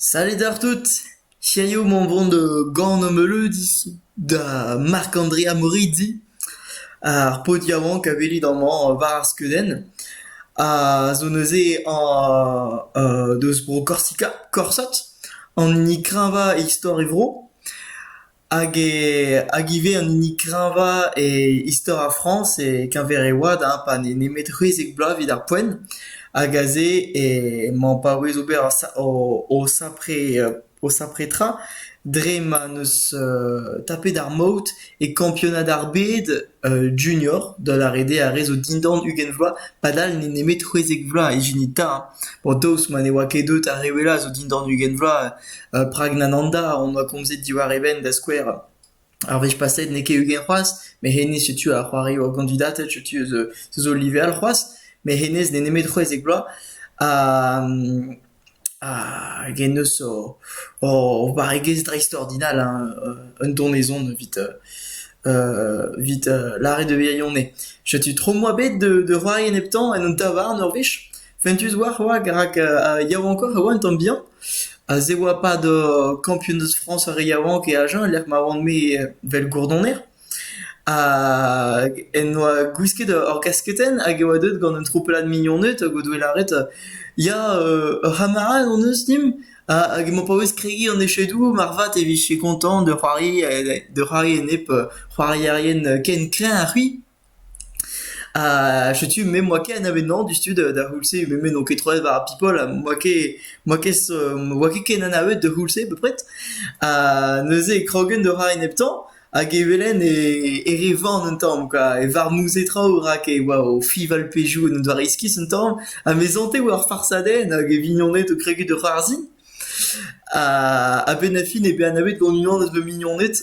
Salut àr tout ! Hiziv omp o vont da Gan Ameulud da Marc-Andrea Morizzi. Ar paotr yaouank a welit amañ war ar skeudenn a zo neuze deus bro Korsika, Korsot, an hini kreñvañ e istor e vro. hag e hag ivez an hini kreñvañ e istor ar Frañs e-keñver e oad ha pa n'eo nemet c'hwezek bloaz evit ar poent hag aze emañ o paouez ober o sapre o sapre tra dre ma n'eus tapet ar maout e kampionad ar bed junior da lâret eo ar re zo dindan ugent vloaz padal n'eo nemet c'hwezek vloaz ijinit 'ta bon daoust ma ne oa ket deut ar re wellañ zo dindan ugent vloaz Prag Nananda hon boa komzet diwar e benn, da skouer. Ar wech paset n'eo ket ugent c'hoazh, met hennezh setu a c'hoari ur gandidated, setu eus eus o live all c'hoazh. Met hennezh n'eo nemet c'hwezek bloaz ha hag en deus o o barregezh dreist-ordinal, hein, un donezon evit evit lâret e virionez. Setu tro 'moa bet da c'hoari e nep tamm en un tavarn ur wech. Fentus oa c'hoazh rak yaouankoc'h e oa un tamm bihan. Ha se oa pad kampionez Frañs ar re yaouank e Agen e-lec'h ma oant-me evel gourdoner. Hag en doa gwisket ur gasketenn hag e oa deuet gant un troupellad mignoned hag o doe lâret ya ur c'hamarad hon eus dimp hag emañ paouez kregiñ an echedoù marvat e vije koñtañ da c'hoari da c'hoari enep c'hoarierien ken kreñv ha c'hwi. Ha setu me moa ket anavezañ diouzhtu da d'ar c'houlz-se, me n'on ket troet war ar people, ha moa ket moa ket moa ket ken anavet d'ar c'houlz-se bepred. Ha neuze e krogen da c'hoari neptañ, hag e welen e e re van un tamm quoi, e varmouzé traoù rak e oa o fiñval pezhioù en un doare iskis un tamm, ha me zañte war ar farsadenn hag e vignoned o kregiñ da c'hoarzhin. A-benn ar fin eo bet anavet gant unan eus va mignoned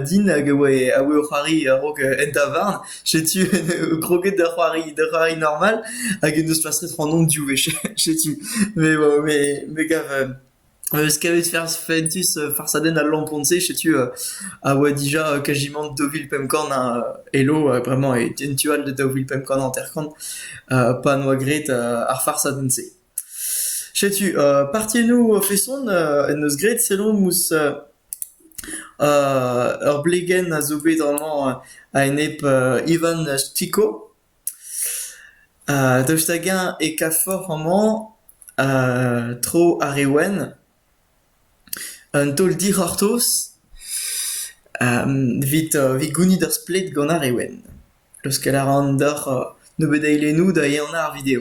din hag a oe a oe o c'hoari a-raok en tavarn. Setu en eo kroget da c'hoari da c'hoari normal hag en deus plastret ac'hanon div wech setu. Mais bon me me gav me 'eus kavet ferzh fentus farsadenn al lampon-se setu a oa dija kajimant daou vil pemp kant a elo bremañ en tu all da daou vil pemp kant hanter-kant pa 'noa graet ar farsadenn-se. Setu partiennoù a-feson en deus graet sellout ouzh ur blegenn a zo bet amañ a-enep Ivan Stiko. Daoust hag-eñ e kavfoc'h amañ tro ar re wenn un taol dic'hortoz evit gounit ur splet gant ar re wenn. Leuskel a ran deoc'h nebeut eilennoù da ehanañ ar video.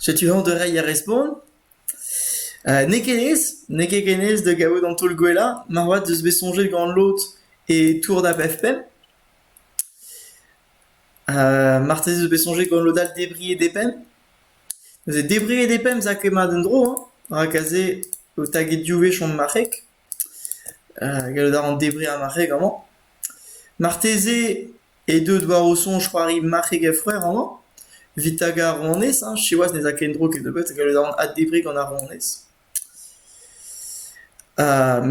Setu hañ da reiñ ar respont. N'eo ket aes, n'eo ket ken aes da gavout an taol gwellañ. Moarvat ez eus bet soñjet gant lod e Tour da Befpem. Marteze ez eus bet soñjet gant lod all debriñ e Depem. Neuze debriñ e Depem 'za ket mat en-dro, rak aze ho taget div wech on marc'heg. Gallout a ran debriñ ar marc'heg amañ. Marteze eo deuet war o soñj c'hoari marc'heg a-fouer amañ. Evit tagañ ar ronez hein, siwazh ne za ket en-dro ken nebeut, gallout a ran addebriñ gant ar ronez.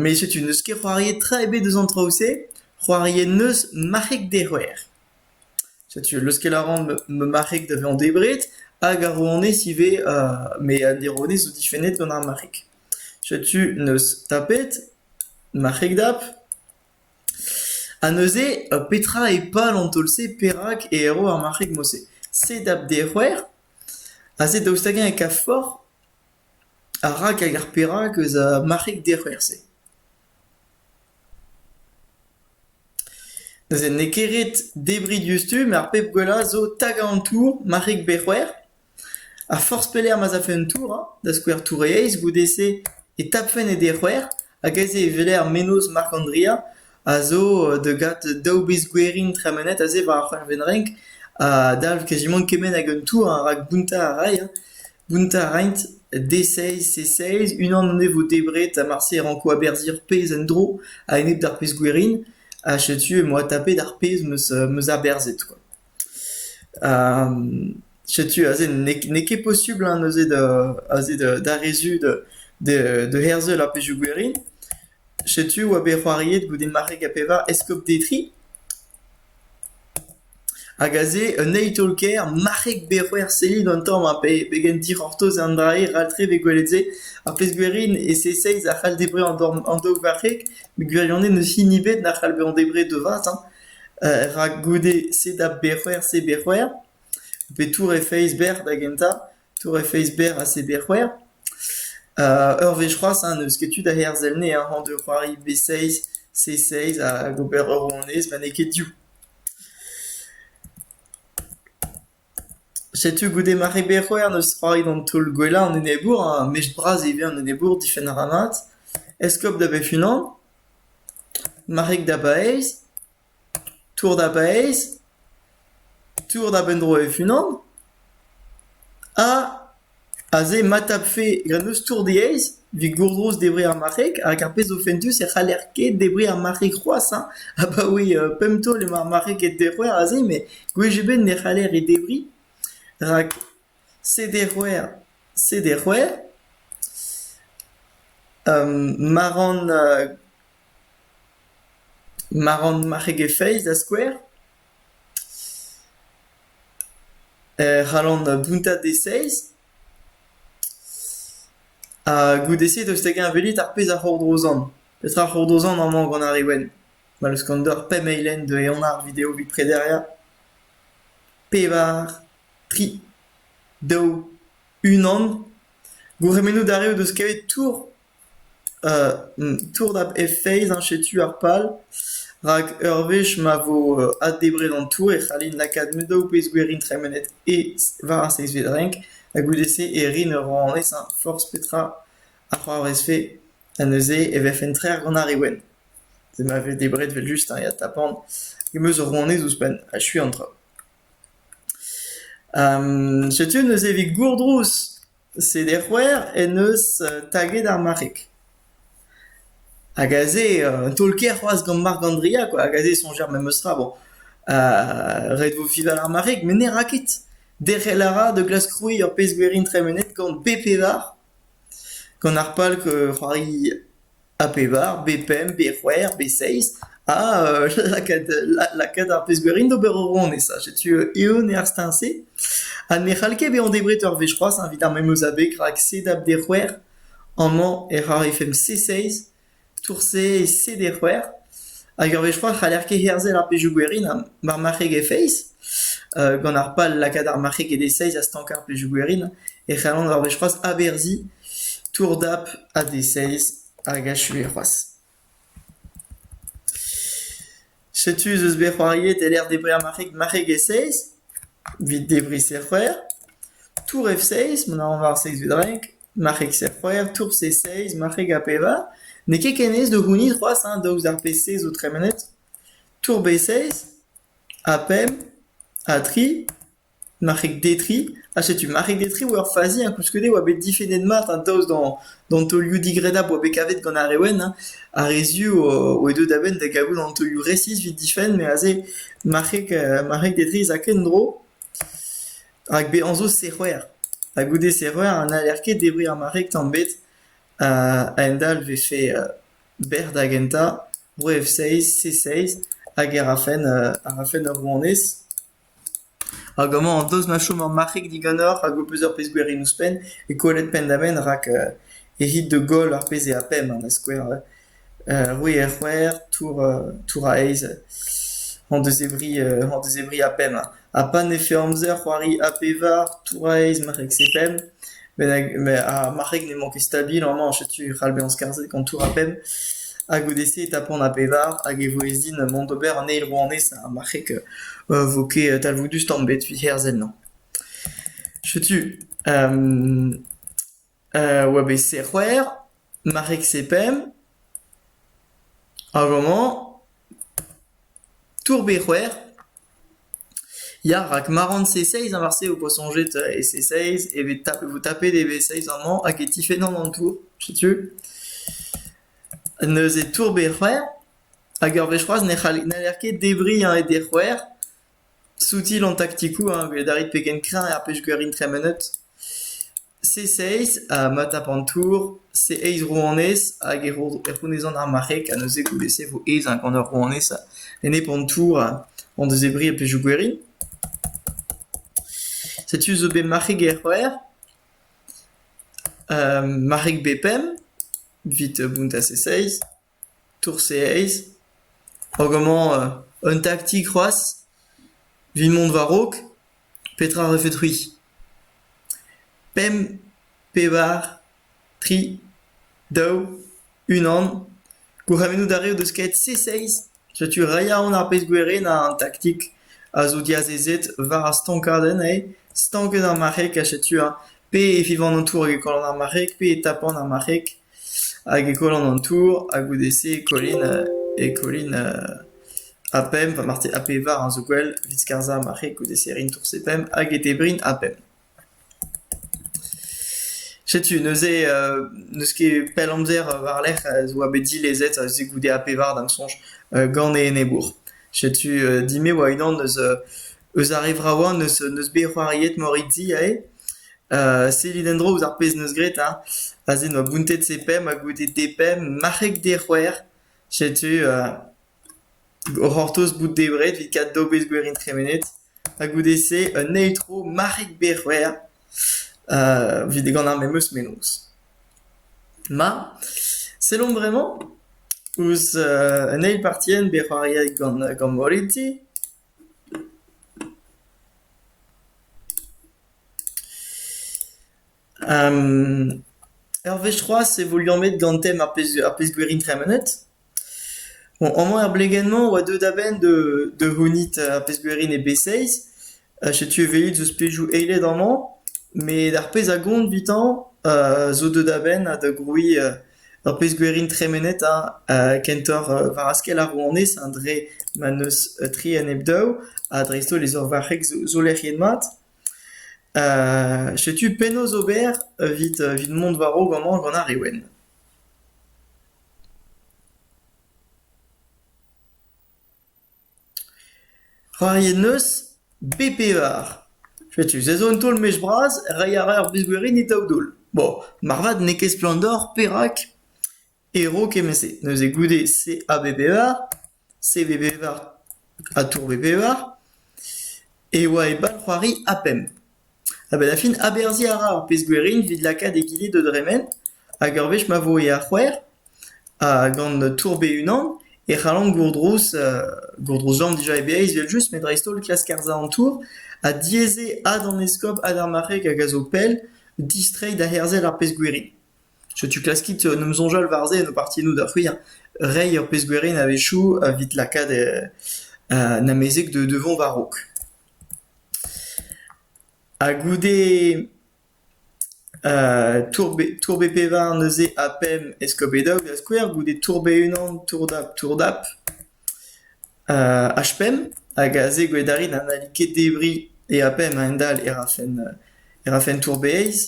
Met setu n'eus ket c'hoariet tra ebet eus an traoù-se. C'hoariet 'neus marc'heg dec'hwer. Setu leuskel a ran ma marc'heg da vezañ debret hag ar ronez ivez, met an ronez zo difennet gant ar marc'heg. Setu n'eus tapet ma c'hegdap. Ha neuze petra eo pal an taol-se perak e erro ar marc'heg-mañ-se? Se dap d'e c'hwec'h, ha se daoust hag-eñ e kav forc'h ha rak hag ar perak eus ar marc'heg d'e c'hwec'h-se? Neuze n'eo ket ret debriñ diouzhtu, met ar pep gwellañ zo tagañ an tour marc'heg pe c'hwec'h. Ha forzh pelec'h ma'z afe un tour, da skouer Tour-Aez goude-se, e tapfen e dec'hwer hag aze e weler mennozh Marc'h-Andria a zo degat daou bezh gwerin tremenet aze war ar c'hwec'hvet-renk a dalv kazimant kement hag un tour rak bountañ a ray. Bountañ a raint D-seiz, C-seiz, unan anezho vo debret ha marse e ranko aberzhiñ ur pezh en-dro a-enep d'ar pezh gwerin ha setu emañ adtapet ar pezh 'm eus aberzhet. Setu aze n'eo ket posubl neuze da rezud da herzel ar pezhioù gwerin. Setu oa bet c'hoariet goude marc'heg ha pevar eskob Detry. Hag aze un eil taol-kaer marc'heg bet c'hwec'h sellit an tamm ha pegen dic'hortoz an dra-se ral-tre vez gwelet se. Ar pezh gwerin e-se-seiz a c'hall debriñ an dorn an daou varc'heg met gwirionez n'eus hini ebet na c'hall bezañ debret da vat. rak goude se da bec'her se bec'her pe tour he feiz berr da gentañ, tour he feiz berr ha se bec'her. ur wech c'hoazh ha n'eus ket tu da herzel anezhañ hañ da c'hoari b-seiz, c-seiz hag ober ur rouanez ma n'eo ket div. Setu goude ma reberoer n'eus roet an taol gwellañ an enebour ha mech bras ivez an enebour difenn a ra mat. Eskob da bep-unan, marc'heg da baez, tour da baez, tour da benn-dro e-unan ha... Aze ma tapfe grennoztour diaes evit gourgoz debret ar marc'heg rak ar pezh zo fentus e c'haller ket debriñ ar marc'heg c'hoazh hein. Abaoe pemp taol emañ ar marc'heg e derc'hwer aze met gwech ebet ne c'haller he debriñ rak se derc'hwer, se derc'hwer. Ma ran ma ran marc'heg e feiz da skouer. e c'hallan bountañ deseizh ha goude-se 'deus da geñveliet ar pezh a c'hordrozan. Petra c'hordrozan amañ gant ar re wenn? Ma 'neus gant deoc'h pemp eilenn deuet eonañ ar video evit prederiañ. Pevar, tri, daou, unan. Gourc'hemennoù dareoù 'deus kavet tour tournap he feiz eñ setu ar pal, rak ur wech ma vo addebret an tour e c'hallin lakaat daou bezgouerion tremenet e war ar seizhvet renk, ha goude-se e rin ur rouanez ha forzh petra a c'hoarvezfe ha neuze e vefen trec'h gant ar re wenn. Ma vez debret evel-just ha tapan em eus ur rouanez ouzhpenn achuiñ an traoù. setu neuze evit gourdrouz. Seder c'hwec'h en deus taget ar marc'heg. Hag aze un taol-kaer c'hoazh gant Marc Andrea quoi, hag aze e soñj ar memestra bon ret vo fival ar marc'heg met ne ra ket. Derc'hel a ra da glask krouiñ ur pezh gwerin tremenet gant B-pevar, gant ar pal c'hoari ha pevar, be pemp, be c'hwec'h, be seizh, ha lakaat lakaat ar pezh gwerin d'ober ur ronez. Ha setu eeun eo ar steuñv-se. Ha ne c'hall ket bezañ debret ur wech c'hoazh, evit ar memes abeg, rak sed ap de c'hwec'h, amañ ec'h arrefemp C6, tour C et C de c'hwec'h. Hag ur wech c'hoazh, c'haller ket herzel ar pezhioù gwerin war marc'heg e feiz. gant ar pal lakaat ar marc'heg e de seizh ha stankañ ar pezhioù gwerin, e c'hallont ur wech c'hoazh averziñ Tour-dap AD6 hag achuet c'hoazh. Setu ez eus bet c'hoariet e-lec'h debriñ ar marc'heg marc'heg e-seiz evit debriñ serc'hwec'h. Tour F6 mont a ran war seiz vudrenk, marc'heg serc'hwec'h, tour C6, marc'heg A-pevar. N'eo ket ken aes da gounit c'hoazh hein, daoust d'ar P6 zo tremenet. Tour B6, A pemp, A tri. Marc'heg-detriñ ha setu marc'heg-detriñ oa ur fazi hein, koulskoude oa bet difennet mat hein, daoust d'an taolioù digrennapl oa bet kavet gant ar re wenn hein, ar re zu oa deuet a-benn da gavout an taolioù resis evit difenn met aze marc'heg-detriñ ez a ken tro rak bezañ zo serc'hwer ha goude serc'hwer n'haller ket debriñ ar marc'heg tamm ebet a-hend-all e vefe bec'h da gentañ Bro F6, C6 hag e rafen ur rouanez. Hag amañ an deus ma chom ur marc'hig diganeoc'h hag ho peus ur pezh-gwerin ouzhpenn e kollet penn-da-benn rak e rit da goll ar pezh eo a-pemp da skouer. oui er c'hwec'h, tour tour a-eizh hon deus e vri hon deus e vri a-pemp. Ha pa ne feurm amzer c'hoari a pevar, tour a-eizh, marc'heg-se-pemp. ar marc'heg ne emañ ket stabil amañ, setu e c'hall bezañ skarzhet gant tour-a-penn. Ha goude-se e tapont a bevar hag e vo ez din mont d'ober an eil rouanez ar marc'heg e vo ket talvoudus tamm ebet evit herzel ennañ. Setu oa bet c'hwec'h, marc'heg-se pemp, hag amañ tour bet c'hwec'h. Ya, rak ma ran C6 war se ho poa soñjet e C6 e vez tapet, vo tapet e V6 amañ hag e tifennan an tour, setu. Neuze tour B-c'hwec'h hag ur wech c'hoazh ne c'haller n'haller ket debriñ e D-c'hwec'h, soutil an taktikoù, hein, 'vit adarre pegen kreñv ar pej gwiriñ tremenet. C6 ha Matapantour, C8 rouanez hag e rouanezon ar marc'heg ha neuze goude-se e vo aes gant ar rouanez Enepontour o dezebriñ e pezhioù gwerin. Setu zo bet marc'heg er c'hwec'h, marc'heg B5 evit bountañ C6. tourseeez hag amañ un taktik c'hoazh evit mont war-raok petra a refet c'hwi pemp pevar tri daou unan gourc'hemennoù d'ar re o deus kaet C6 Setu re yaouank ar pezh gwirionnañ an taktik a zo diazezet war ar stankadenn eo stanket ar marc'heg ha setu ha pe e fivan an tour hag e kollont ar marc'heg pe e tapant ar marc'heg hag e kollont an tour ha goude-se e kollint e kollint A pemp ha marteze A pevar a zo gwell evit skarzhañ ar marc'heg goude-se e rint tour C pemp hag e debrint A pemp. Setu neuze n'eus ket pell amzer war-lerc'h ez oa bet dilezet se goude A pevar da'm soñj gant e enebour. Setu din me oa-unan eus ar re vravañ n'eus bet c'hoariet moriti aze. Sellit en-dro ouzh ar pezh neus graet ha aze n'oa bountet se pemp ha goude depemp marc'heg dec'hwec'h. Setu o c'hortoz bout debret evit kat daou bezh gwerin tremenet. Ha goude-se un eil tro Marc'hig Berc'hwer evit e ganañ memes mennozh. Ma, sellomp bremañ ouzh un eil partienn bet c'hoariet gant gant Moretti. Ur wech c'hoazh e vo liammet gant tem ar pezh ar pezh-gwerin tremenet. Bon, amañ er blegenn-mañ 'oa deuet a-benn da c'hounit ar pezh-gwerin e B6. Setu evezhiet zo spejoù eilet amañ, met ar pezh a gont 'vitañ zo deuet a-benn da grouiñ ur pezh-gwerin tremenet hein kentoc'h war askell ar rouanez hein dre ma n'eus tri ha nep daou ha dreist-holl e zorvarc'heg zo lec'hiet mat. Setu penaos ober evit mont war-raok amañ gant ar Reouen. C'hoari en deus bep pevar. Setu se zo un taol-mech bras reiñ a ra ur brizhgwerin e daou daol. Bon, marvat n'eo ket splann deoc'h perak e ro kement-se. Neuze goude se a bep pevar. CV-Bevar ha Tour-B-Bevar e oa e bal-c'hoari A pemp. Ha benn-ar-fin aberzhiñ a ra ar pezh-gwerin evit lakaat egile da dremen hag ur wech ma vo e ar c'hwec'h ha gant Tour B-unan e c'hallan gourdrouz gourdrouzañ dija e Breizh evel-just met dreist-holl klask arsañ an tour ha diaes eo ad an eskob ha d'ar marc'heg hag a zo pell distreiñ da herzel ar pezh-gwerin. Setu klaskit en em soñjal war-se en ho partiennoù da c'hwir, reiñ ur pezh gwerin a-wechoù evit lakaat an amezeg da vont war-raok. Ha goude tourbe pevar neuze ha pemp eskoped-daou da skouer, goude tourbe unan tour-dap-tour-dap h-pemp hag aze gwedarin ha n'halli ket debriñ e a-pemp a-hend-all e rafen tourbe eizh.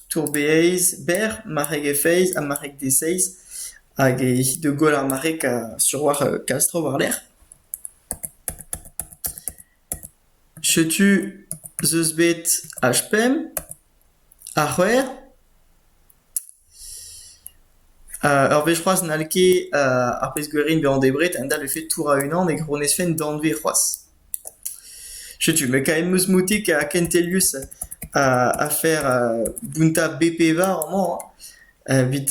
Tour-Bereiz berr, marreg-e-feiz ha marreg-de-seiz hag evit da goll ar marreg sur war Kastro war-lerc'h. Setu 'z eus bet H5, H c'hwec'h. Ur wech c'hoazh n'hall ket ar pezh-gwerin bezañ debret a-dal e fed tourañ unan e gronezfenn danvez c'hoazh. Setu me kaemp eus moutik ha kentelius afer bountañ B-pevar amañ evit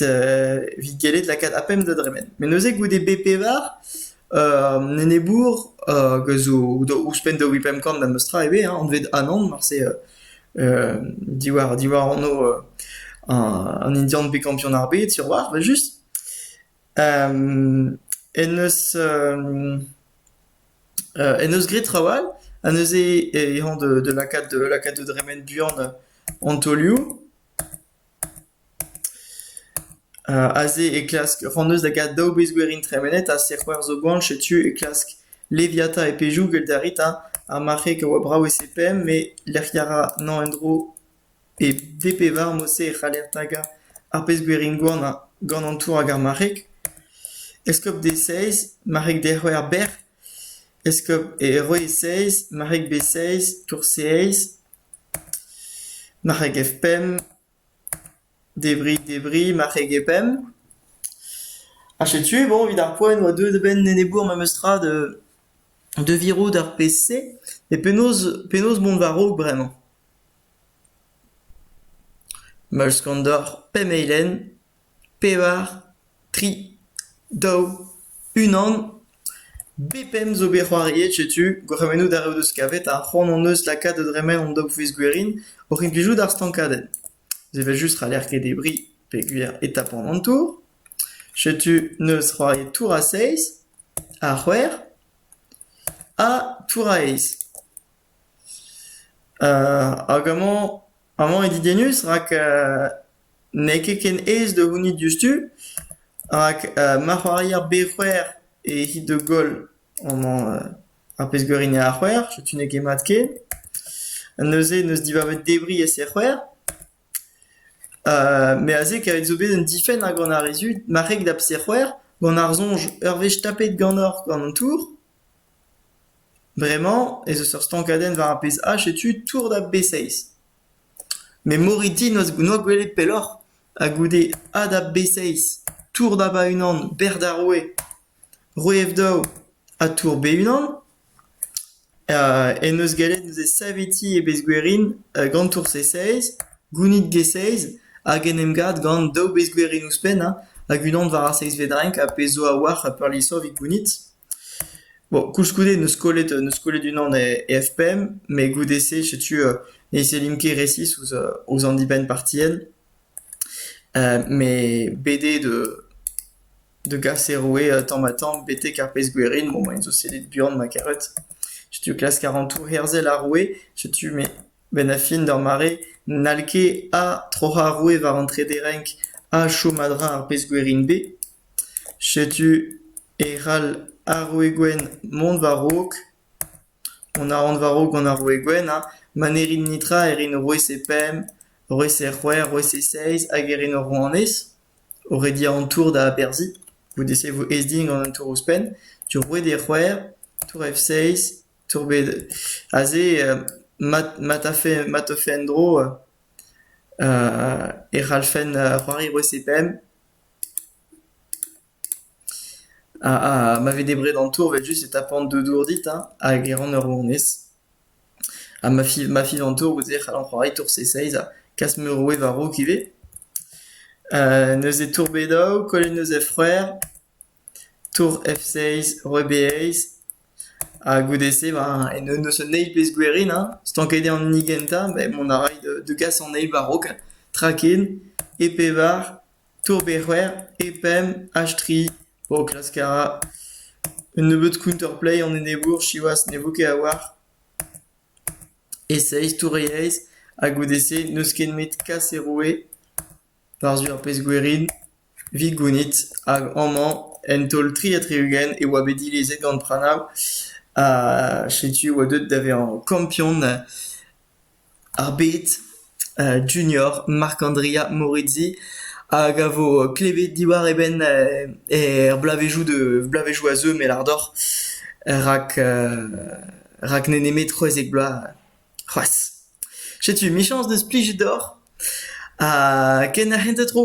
evit gellet lakaat ar pemp da dremen. Met neuze goude B-pevar an enebour hag a zo ouzhpenn daou vil pemp kant memes tra ivez anvet Anan marse diwar diwar ano an Indian bet kampion ar bed Sirwar 'vel just en deus en deus graet traoù all ha neuze eh emañ da lakaat da lakaat da dremen buan an taolioù Aze e klask Ranneus da gas daou bezh-gwerin tremenet ha sic'hwec'h zo gwan. Setu e klask Leviata e pezhioù. Gwell a rit, hañ? Ar marc'heg a oa brav e CPM met lec'hiañ a ra emañ en-dro e v-pevar. Mod-se e c'haller tagañ ar bezh-gwerin gwan gant an tour hag ar marc'heg. Eskob D-seiz, marc'heg D-c'hwec'h bec'h. Eskob e roue seiz, marc'heg B-seiz, tour C-eizh. Marc'heg-Evpenn, debri-debriñ marc'heg-e-penn. Ha setu bon evit ar poent e oa deuet a-benn enebour memestra da da virout ar pezh-se. E penaos penaos mont war-raok bremañ? Meuls Kandor, pemp eilenn. pevar, tri, daou, unan. B5 zo bet c'hoariet setu, gourc'hemennoù darev deus kavet ha c'hoant hon eus lakaat da dremen hon daou-fouez gwerin oc'h implijout ar stankadenn. Evel just c'haller ket debriñ peogwir e tapont an tour. Setu neus c'hoariet tour a seizh, a c'hwec'h ha tour a eizh. Hag amañ, amañ eo didennus rak n'eo ket ken aes da gounit diouzhtu rak ma c'hoari ar bec'hwer e-hit da goll amañ ar pezh garin eo ar c'hwer setu n'eo ket mat ken. Neuze n'eus dibabet debriñ e-ser c'hwer. Met aze kavet zo bet un difenn gant ar re zud, marc'heg da pser c'hwer gant ar soñj ur wech tapet ganeoc'h gant an tour. Bremañ ez eus ur stankadenn war ar pezh all setu tour da B6. Memori din n'oa gwelet pelloc'h ha goude A da B6, tour da ba-unan, bec'h d'ar roue, roue F-daou ha tour B-unan, en deus gallet neuze savetiñ e bezgwerin gant tour C6, gounit G6 hag en em gav gant daou bezgwerin ouzhpenn hag unan war ar seizhvet renk, ar pezh zo a-walc'h peurliessañ evit gounit. Bon, koulskoude n'eus kollet n'eus kollet unan e e F-pemp, met goude-se setu ne sellimp ket resis ouzh ouzh an dibenn partien, met bet eo da da gas e roue tamm-ha-tamm betek ar pezh-gwerin, bon maen zo sellet buan ma karet, setu o klask ar antoù herzel ar roue, setu me benn-ar-fin d'ur mare n'hall ket ha troc'hañ ar roue war an trede renk ha chom a-dreñv ar pezh-gwerin bet, setu E c'hall ar roue gwenn mont war-raok, mont a ran war-raok gant ar roue gwenn ha ma ne rit netra e rin roue-se pemp, roue-se c'hwec'h, roue-se seizh hag e rin ur rouanez, o rediañ an tour da aberzhiñ, goude-se e vo aes din gant an tour ouzhpenn, tour roued eo c'hwec'h, tour F seizh, tour bet... aze ma tafe ma teufe en-dro e c'hallfen c'hoari roue-se pemp. Ah, ma vez debret an tour 'vel-just e tapan deux dour dit hein, hag e ran ur rouanez. Ha ma fiv ma fiv an tour ouzh he c'halon c'hoari tour seizh-seizh ha kas ma roue war-raok ivez. neuze tour Bedaou, Kolluneuse he c'hwec'h, tour F-seizh, roue B-eizh, ha goude-se ben en deus un eil pezh gwerin hein, stanket eo an hini gentañ, ben mont a ray da gas an eil war-raok, traken, e pevar. tour Bec'hwer e pemp hash tri o klask a ra un nebeud counter-play an enebour siwazh ne vo ket a-walc'h. E seizh tour e eizh ha goude-se n'eus ket nemet kas e roue war-zu ar pezh-gwerin evit gounit hag amañ en taol tri ha tri-ugent e oa bet dilezet gant Pranav ha setu e oa deuet da vezañ kampion Ar bet Junior Marc'h-Andrea Morizzi hag a vo klevet diwar e benn er bloavezhioù da bloavezhioù a zeu met ardor rak rak n'eo nemet c'hwezek bloaz c'hoazh. Setu michañs deus plijet deoc'h ha ken ar c'hentañ tro.